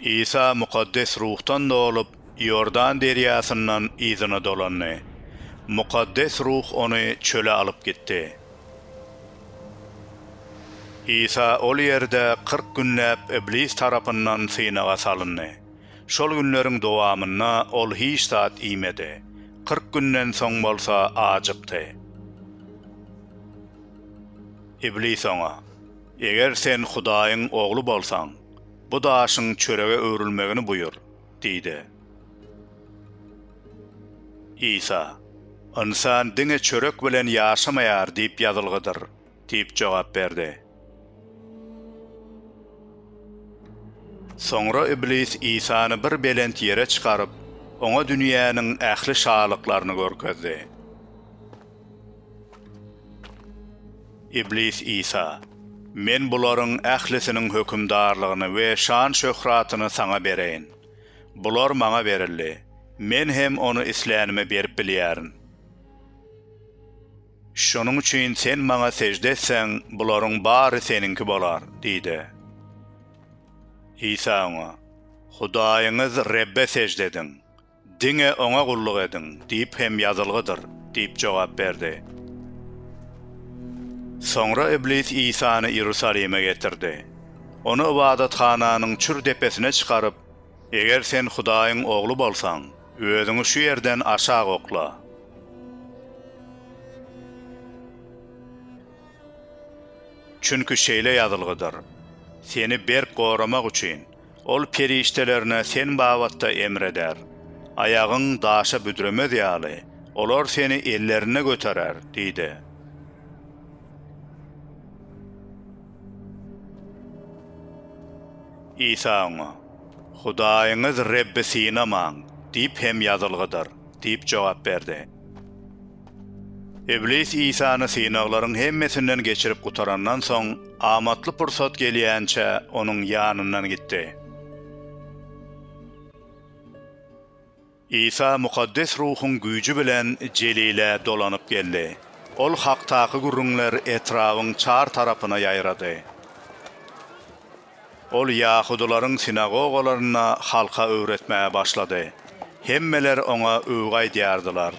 Isa Mukaddes Ruhdan dolup, Iordan derýasyndan yzyna dolandy. Mukaddes Ruh ony çöle alyp gitdi. Isa ol ýerde kyrk günläp Iblis tarapyndan synaga salyndy. Şol günleriň dowamynda ol hiç zat iýmedi. Kyrk günden soň bolsa ajykdy. Iblis oňa, Eger sen Hudaýyň Ogly bolsaň, bu daşyň çörege öwrülmegini buýur diýdi. Isa, Ynsan diňe çörek bilen ýaşamaýar diýip ýazylgydyr diýip jogap berdi. Soňra Iblis Isany bir belent ýere çykaryp, oňa dünýäniň ähli şalyklaryny görkezdi. Iblis Isa, Men bularyň ählisiniň hökümdarlygyny we şan-şöhratyny saňa bereýin. Bular maňa berildi, men hem ony islänime berip bilýärin. Şonuň üçin sen maňa sežde etseň, bularyň bary seniňki bolar diýdi. Isa oňa, Hudaýyňyz Rebbe sežde ediň. Diňe Oňa gulluk ediň diýip hem ýazylgydyr diýip jogap berdi. Soňra Iblis Isany Iýerusalime getirdi. Ony ybadathananyň çür depesine çykaryp, Eger sen Hudaýyň Ogly bolsaň, özüňi şu ýerden aşak okla. Çünki şeýle ýazylgydyr, Seni berk goramak üçin, Ol perişdelerine sen babatda emr eder. Aýagyň daşa büdremez ýaly, olar seni ellerinde göterer diýdi. Isa oňa, Hudaýyňyz Rebbi synamaň diýip hem ýazylgydyr diýip jogap berdi. Iblis Isany synaglaryň hemmesinden geçirip gutarandan soň, amatly pursat gelýänçä onuň ýanyndan gitdi. Isa mukaddes ruhuň güýji bilen Jelile dolanyp geldi. Ol hakdaky gürrüňler etrabyň çar tarapyna ýaýrady. Ol ýahudylaryň sinagogalarynda halka öwretmäge başlady. Hemmeler oňa öwgi aýdýardylar.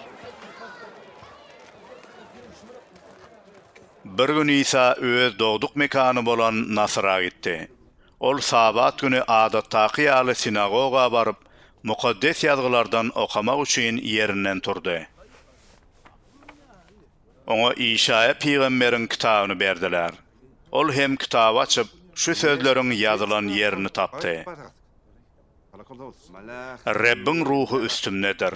Bir gün Isa öz dogduk mekany bolan Nasyra gitdi. Ol Sabat güni adatdaky ýaly sinagoga baryp, Mukaddes Ýazgylardan okamak üçin ýerinden turdy. Oňa Işaýa pygamberiň kitabyny berdiler. Ol hem kitaby açyp, şu sözleriň ýazylan ýerini tapdy. Rebbiň Ruhy üstümdedir.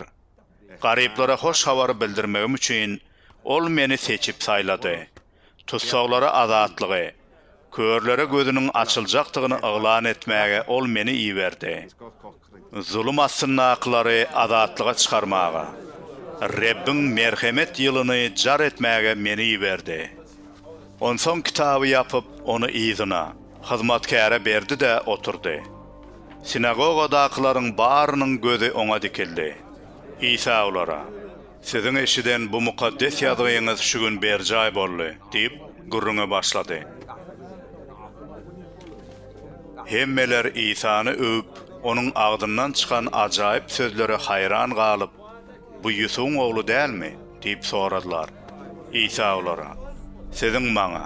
Garyplara hoş habary bildirmegim üçin Ol meni seçip saýlady. Tussaglara azatlygy, körlere gözüniň açyljakdygyny yglan etmäge Ol meni iberdi. Zulum astyndakylary azatlyga çykarmaga, Rebbiň merhemet ýylyny jar etmäge meni iberdi. Onsoň kitaby ýapyp, ony yzyna, hyzmatkäre berdi-de oturdy. Sinagogadakylaryň barynyň gözi oňa dikildi. Isa olara, Siziň eşiden bu mukaddes ýazgyňyz şu gün berjaý boldy diýip, gürrüňe başlady. Hemmeler Isany öwüp, onuň agzyndan çykan ajaýyp sözlere haýran galyp, Bu Ýusubyň ogly dälmi? diýip soradylar. Isa olara, Siziň maňa,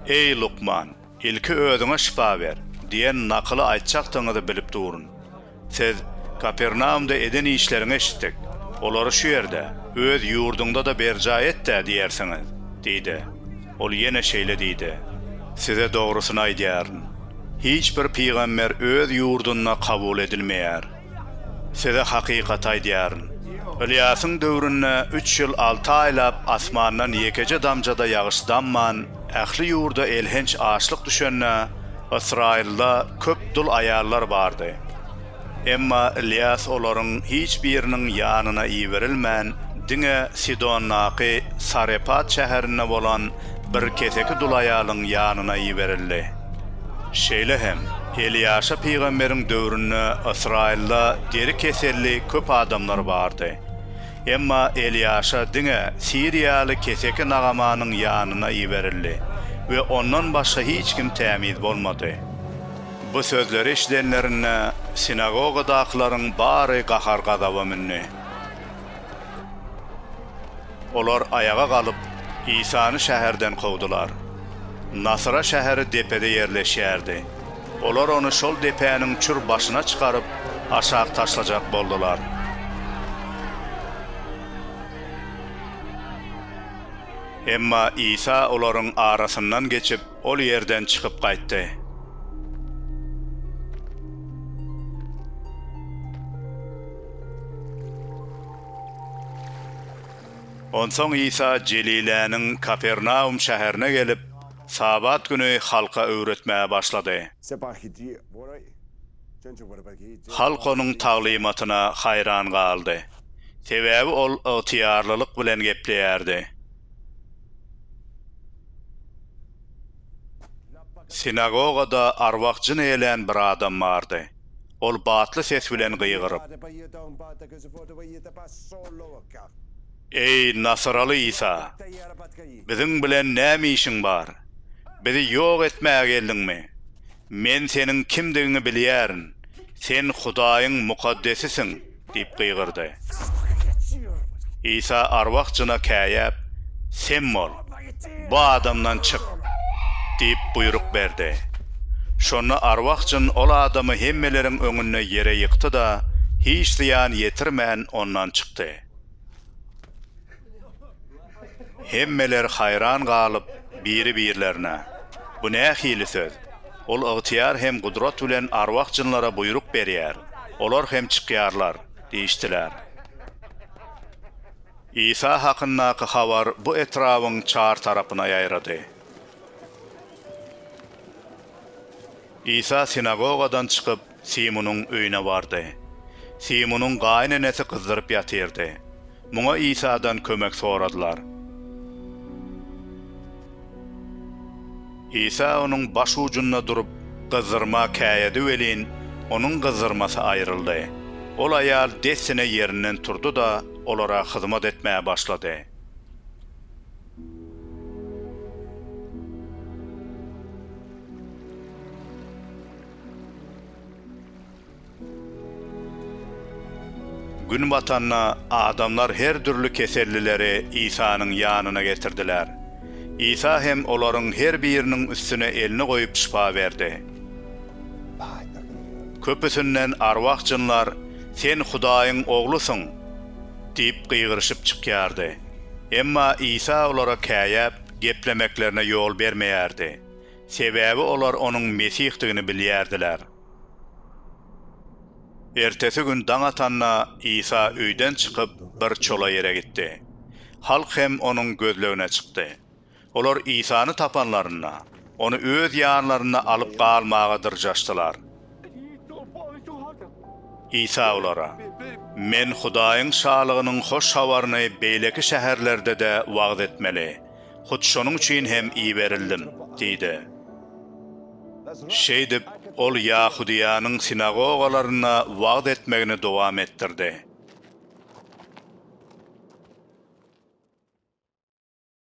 Eý, lukman, ilki özüňe şypa ber! diýen nakyly aýtjakdygyňyzy bilip durun. Siz Kapernaumda eden işleriňi eşitdik. Olary şu ýerde, öz ýurduňda-da berjaý et-dä diýersiňiz! diýdi. Ol ýene şeýle diýdi, Size dogrusyny aýdýaryn, hiç bir pygamber öz ýurdunda kabul edilmeýär. Size hakykaty aýdýaryn, Ylýasyň döwründe üç ýyl alty aýlap asmandan ýekeje damja-da ýagyş damman, ähli ýurda elhenç açlyk düşende, Ysraýylda köp dul aýallar bardy. Emma Ylýas olaryň hiç biriniň ýanyna iberilmän, diňe Sidondaky Sarepat şäherinde bolan bir keseki dul aýalyň ýanyna iberildi. Şeýle hem, Elýaşa pygamberiň döwründe Ysraýylda deri keselli köp adamlar bardy. Emma Elýaşa diňe siriýaly keseki Nagamanyň ýanyna iberildi we ondan başga hiç kim tämiz bolmady. Bu sözleri eşidenlerinde, sinagogadakylaryň bary gahar-gazaba mündi. Olar aýaga galyp, Isany şäherden kowdular. Nasyra şäheri depede ýerleşýärdi. Olar ony şol depäniň çür başyna çykaryp, aşak taşlajak boldular. Emma Isa olaryň arasyndan geçip, ol ýerden çykyp gaýtdy. Onsoň Isa Jeliläniň Kapernaum şäherine gelip, Sabat güni halka öwretmäge başlady. Halk onuň taglymatyna haýran galdy. Sebäbi ol ygtyýarlylyk bilen gepleýärdi. Sinagogada arwah-jyn eýlän bir adam bardy. Ol batly ses bilen gygyryp. Eý, nasyraly Isa! Biziň bilen näme işiň bar? Bizi ýok etmäge geldiňmi? Men Seniň kimdigiňi bilýärin, Sen Hudaýyň Mukaddesisiň! diýip gygyrdy. Isa arwah jyna käýäp, Sem bol, bu adamdan çyk! diýip buýruk berdi. Şonda arwah jyn ol adamy hemmeleriň öňünde ýere ýykdy-da, hiç zyýan ýetirmän ondan çykdy. Hemmeler haýran galyp, biri-birlerine, Bu nähili söz? Ol ygtyýar hem gudrat bilen arwah-jynlara buýruk berýär, olar hem çykýarlar diýişdiler. Isa hakyndaky habar bu etrabyň çar tarapyna ýaýrady. Isa sinagogadan çykyp, Simunyň öýüne bardy. Simunyň gaýynenesi gyzdyryp ýatyrdy. Muňa Isadan kömek soradylar. Isa onuň baş ujunda durup, gyzdyrma käýedi welin, onuň gyzdyrmasy aýryldy. Ol aýal dessine ýerinden turdy-da, olara hyzmat etmäge başlady. Günbatanda adamlar her dürli kesellileri Isanyň ýanyna getirdiler. Isa hem olaryň her biriniň üstüne elini goýup şypa berdi. Köpüsinden arwah jynlar Sen Hudaýyň Oglusyň! diýip gygyryşyp çykýardy. Emma Isa olara käýäp, geplemeklerine ýol bermeýärdi. Sebäbi olar onuň Mesihdigini bilýärdiler. Ertesi gün daň atanda, Isa öýden çykyp, bir çola ýere gitdi. Halk hem onuň gözlegine çykdy. Olar Isany tapanlarynda, ony öz ýanlarynda alyp galmaga dyrjaşdylar. Isa olara, Men Hudaýyň Şalygynyň hoş habaryny beýleki şäherlerde-de wagyz etmeli, hut şonuň üçin hem iberildim diýdi. Şeýdip, ol Ýahudyýanyň sinagogalarynda wagyz etmegini dowam etdirdi.